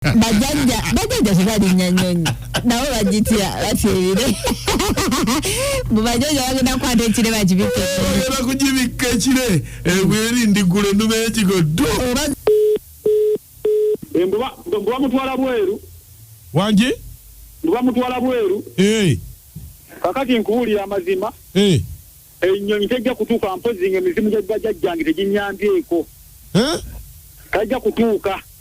bajajja bajajja tebalinya nyonyi nabo bagitya batyebire mu bajajja bagenda kukwata ekire bakibikke bagenda kugibikka ekire ebweri eh, ndigula enuma ekigo ddu bamutwala eh, bweru wangi bamutwala bweru eh. kakati nkuwulira amazima enyonyi tejja kutuuka mpozi nga emizimu gya bajajjange teginyambyeko tajja kutuuka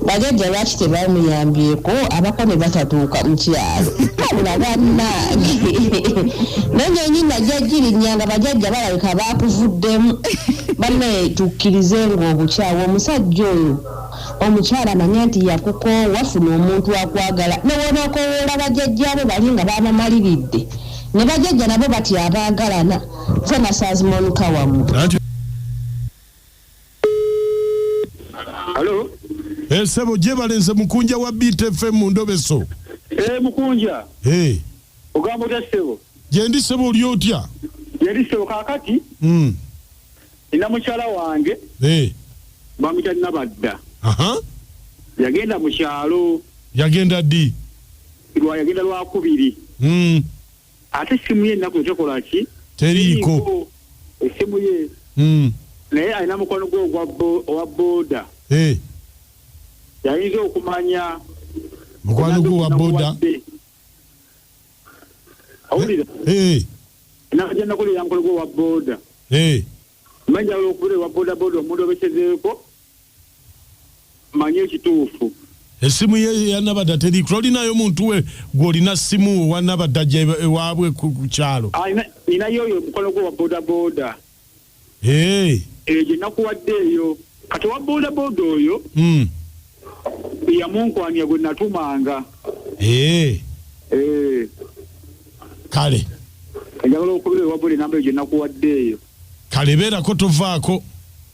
Bajajja lwaki tebamuyambyeko abako ne batatuuka mu kyalo wabula bannange nenyonyi najja girinya nga bajajja balabika baakuvuddemu banne tukkirize ng'obukyawa omusajja oyo omukyala manya nti yakukoowa funa omuntu akwagala newebakowoola bajajjaabo bali nga baamamaliridde ne bajajja nabo batya abaagalana nze nasaazimonuka wamu Halo. Eh, sebo jebale nze mukunja wa Beat FM mu ndobeso. Eh, mukunja. Eh. Ogamba otya sebo? Je ndi sebo oli otya? Je ndi sebo kakati. Mm. Ina mukyala wange. Eh. Bamita nabadda. Aha. Yagenda mu kyalo. Yagenda di. Lwa yagenda lwa kubiri. Mm. ate essimu ye ennaku tekola ki teriiko essimu ye hmm. naye alina mukwano gwe owa booda eh. yayinza okumanya mukwano gwe owa booda awulira eh. ennaku gyennakulira mukwano gwe owa booda eh. manja olwokubeera owa booda booda omuntu obekezeeko manya ekituufu esimu ye yanabadda teri tolinayo muntu we gwolina simu wanabadda ja ewaabwe ku kyalo ah, ninayo oyo omukono gwe wa bodaboda eyo eh, gyenakuwadde eyo kati owa bodaboda oyo hmm. yamunkwanya gwe natumanga eh. Eh. kale njagala okubira ewabuli namba eyo gyenakuwadde eyo kale beerako tovaako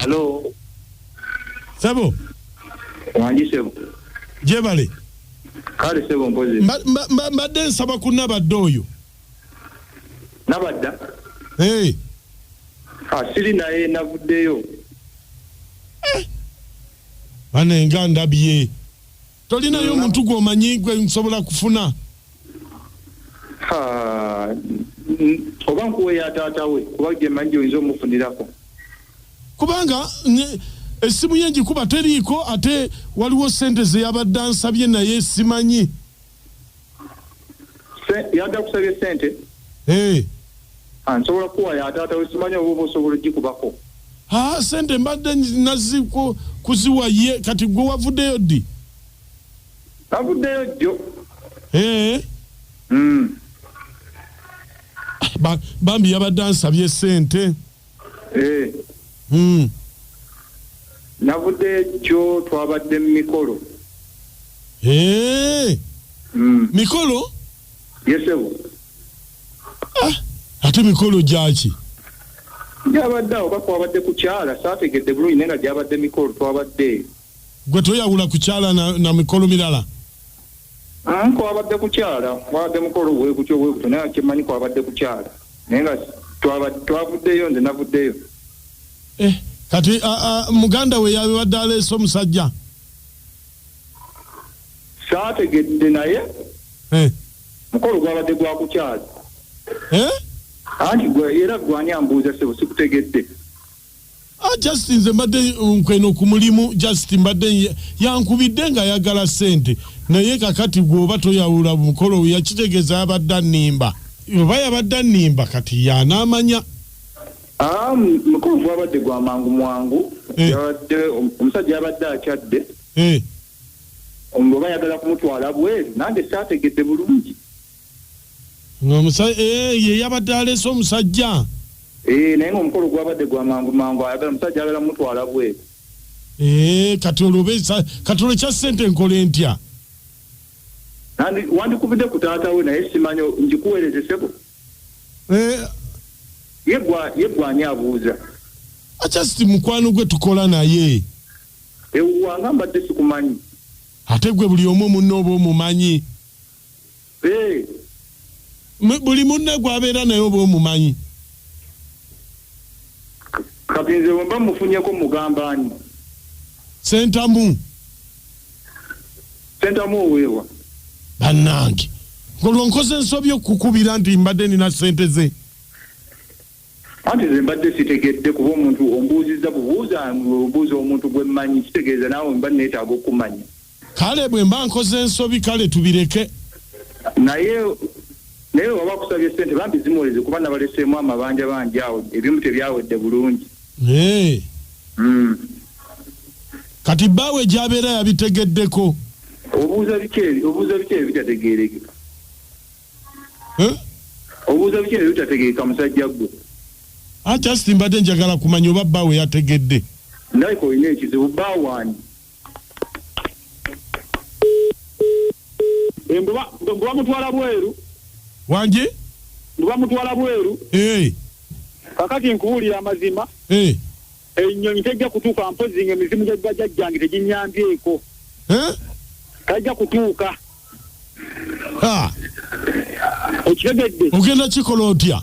Hello. Sebo. Wangi sebo. Jebale. Kale sebo mpozi. Mba, mba, mba, mba den saba kuna bado yo. Na bada? Hey. Asili na ye na vude yo. Eh. Ane nga ndabi ye. tolinayo muntu gwomanyi gwe nsobola kufuna oba nkuweya taata we kuba gyemanyi gyoyinza omufunirako kubanga essimu ye ngikuba teriiko ate waliwo sente zeyabadde ansabye naye simanyi yadda kusabye ssente eh. ansobola ah, kuwa yataata wesimanya oba oba osobola ogikubako haa ah, sente mbadde nazi kuziwa ye kati gwe wavuddeyo ddi navuddeyo jjo eh. mm. bambi yabadde ansabye sente Eh. Hmm. Navudde kyo twabadde mu mikolo. Eh. Hmm. Mikolo? Yes, sir. Ah, ate mikolo gyaki? Gyabadde awo bakwabadde kukyala saategedde bulungi naye nga gyabadde mikolo twabadde. Gwe toyawula kukyala na, na mikolo mirala? Mm, kwabadde kukyala kwabadde mukolo wegutyo wegutyo naye kyemanyi kwabadde kukyala naye nga twavuddeyo nze navuddeyo eh, kati a, a, muganda we yabibadde aleese omusajja saategedde naye eh. mukolo gwabadde gwakukyala eh? anti era gwani ambuuza sebo sikutegedde Ah, just nze mbadde nkweno ku mulimu just mbadde yankubidde nga ayagala sente naye kakati gwoba toyawula mukolo yakitegeza yabadde annimba oba yabadde annimba kati yanaamanya ah, mukulu gwabadde gwa mangu mwangu eh. yabadde omusajja yabadde akyadde eh. oba yagala kumutwala bweru nange saategedde bulungi Nga omusa eeh ye yabadde aleese omusajja. Eeh naye nga omukolo gwabadde gwa mangu mangu ayagala omusajja ayagala mutwala bweru. Eeh kati olwo oba esa kati olwo ekya sente nkole ntya. Nandi wandikubidde ku taata we naye simanyi njikuwereze ssebo. Eeh. Ye gwa ye gwe ani abuuza. A just mukwano gwe tukola naye. Ewuwa nga mbadde sikumanyi. Ate gwe buli omu munno oba omumanyi. Eeh. Mu- buli munne gwabeera naye oba omumanyi Kati nze wemba mufunyeko mugamba ani? sentamu Sentamu oweewa. bannange olwo nkoze ensobi okukubira nti mbadde nina sente ze Anti nze mbadde sitegedde kuba omuntu ombuuzizza bubuuza nga obuuza omuntu gwe mmanyi kitegeeza naawe mba nneetaaga okukumanya. Kale bwe mba nkoze nsobi kale tubireke. Naye naye bwe baba bakusabye ssente bambi zimuweze kuba nabaleseemu amabanja bangi awo ebimu tebyawedde bulungi. Hee. Hmm. Kati bbaawe gy'abeera yabitegeddeko? Obuuza biki ebyo obuuza biki ebyo ebitategeerekeka? obuuza biki nebitategeeka musajja gwe. I just mbadde njagala kumanya oba bba we yategedde. Ndabika olina ekizibu bba waani? Eh, mbu ba- mbu bamutwala bweru Wangi? mbu bamutwala bweru Eh, kakati nkubuulira amazima eh. Ennyonyi tejja kutuuka mpozzi nga emizimu gya bajajjange teginyambyeeko. Tajja kutuuka. Ah. Okitegedde? Ogenda kikola otya?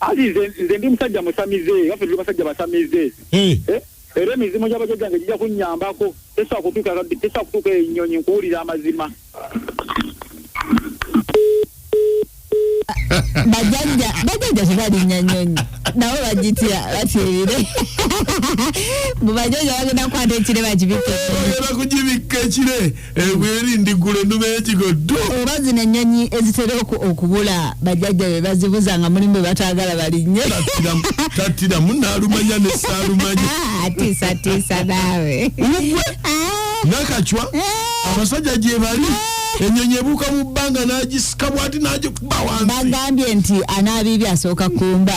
Ali nze ndi musajja musamize era tuli basajja basamize. Eh. Eh? Era emizimu gya bajajjange gijja kunnyambako. Tesobola kutuuka tesobola kutuuka ennyonyi nkuwulira amazima. bajajja bajajja tebalinya nyonyi nabo bagitya bateebire mu bajajja bagenda kukwata ekire bakibikke bagenda kugibikka ekire ebweri eh, ndigula enuma y'ekigoddo oba zino ennyonyi ezitera okubula bajajja be bazibuza nga mulimu be bataagala balinnye tattira munaalumanya ne saalumanya atiisatiisa naawe nakacwa eh. abasajja gyebali enyonyi ebuuka mu bbanga n'agisika bwati n'agikuba wansi bagambye nti anaabiibi asooka kumba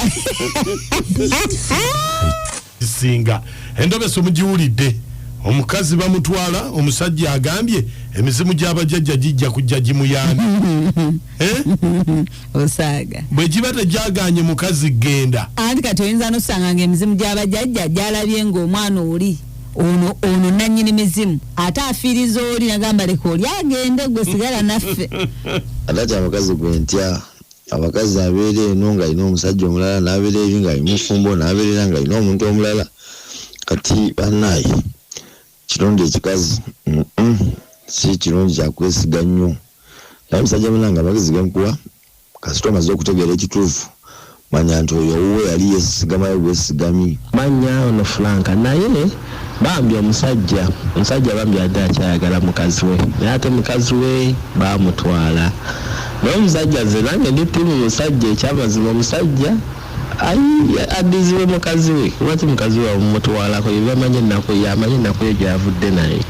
singa endobesa omugiwulidde omukazi bamutwala omusajja agambye emizimu gyabajajja gijja kujja gimuyambi eh? osaaga bwe giba tegyaganye mukazi genda anti kati oyinza nosanga nga emizimu gyabajajja gyalabye ngaomwana oli ono ono nanyini mizimu ate afiiriza oli nagamba leka oli agende gwe sigala naffe atati abakazi gwe ntya abakazi abeera eno ng'alina omusajja omulala n'abeera eri ng'ali mufumbo n'abeerera ng'alina omuntu omulala kati bannaaye kirungi ekikazi si kirungi kyakwesiga nnyo naye musajja munange amagezi genkuwa Kasita omaze okutegeera ekituufu manya nti oyo owuwo yali yesigamayo bwesigamyi. Manya ono Frank naye bambi omusajja omusajja bambi abadde akyayagala mukaziwe naye ate mukaziwe bamutwala naye omusajja nze nange ndi team musajja ekyamazima omusajja ayii adizibwe mukaziwe lwaki mukaziwe bamumutwalako yebamanyi enaku yamanyi enakuye gyavudde naye.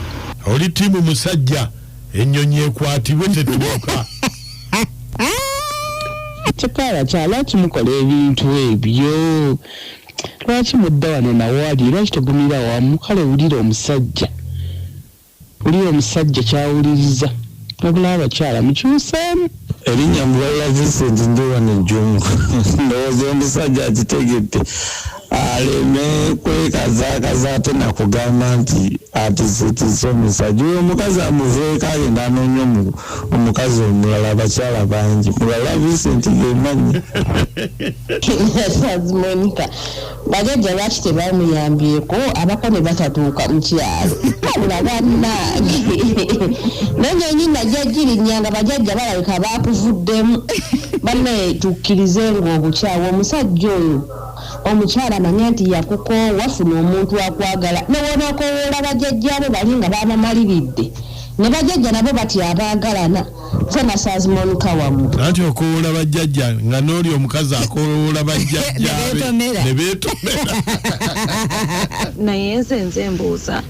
Oli team musajja enyonyi ekwatibwe tetuuka. Kikaala kya lwaki mukola ebintu ebyo lwaki mudda wano nawali lwaki tegumira wamu kale wulira omusajja wulira omusajja kyawuliriza wabula abakyala mukyuseemu erinnya mubala vincent ndi wano ejjungu ndowooza omusajja akitegedde Aleme kwekazaakaza ate nakugamba nti atiisetiise omusajja oyo omukazi amuveeko agende anoonye omukazi omulala abakyala bangi mulala Vincent gemanyi. Kyazi Monica bagajja lwaki tebamuyambyeko abako ne batatuuka mu kyalo wabula bannange naye nyenyi najja girinya nga bajajja balabika baakuvuddemu banne tukkirize ng'obukyawa omusajja oyo Omukyala manya nti yakukoowa, funa omuntu akwagala newonakoowoola bajajja bo bali nga babamaliridde ne bajajja nabo batya abaagalana nze nasanz Monica wamwe. Anti okoowola bajjajja nga nooli omukazi akoowola bajjajjaabe ne beetomera. Naye nze nze mbuuza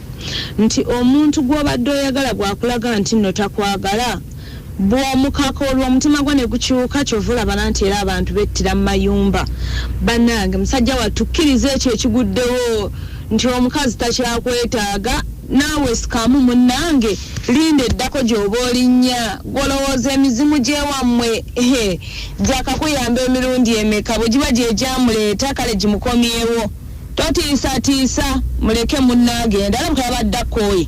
nti omuntu gw'obadde oyagala bw'akulaga nti nno takwagala bwomukaka olwo omutima gwo negukyuka kyova olaba nanti era abantu bettira mumayumba banange musajja wa tukiriza ekyo ekiguddewo nti omukazi takyakwetaaga naawe sikamu munnange linda eddako gy'oba olinnya gwolowooza emizimu gyewammwe gyakakuyamba emirundi emeka bwe giba gyegyamuleeta kale gimukomyewo totiisatiisa muleke munnange endala bukabadde akkoye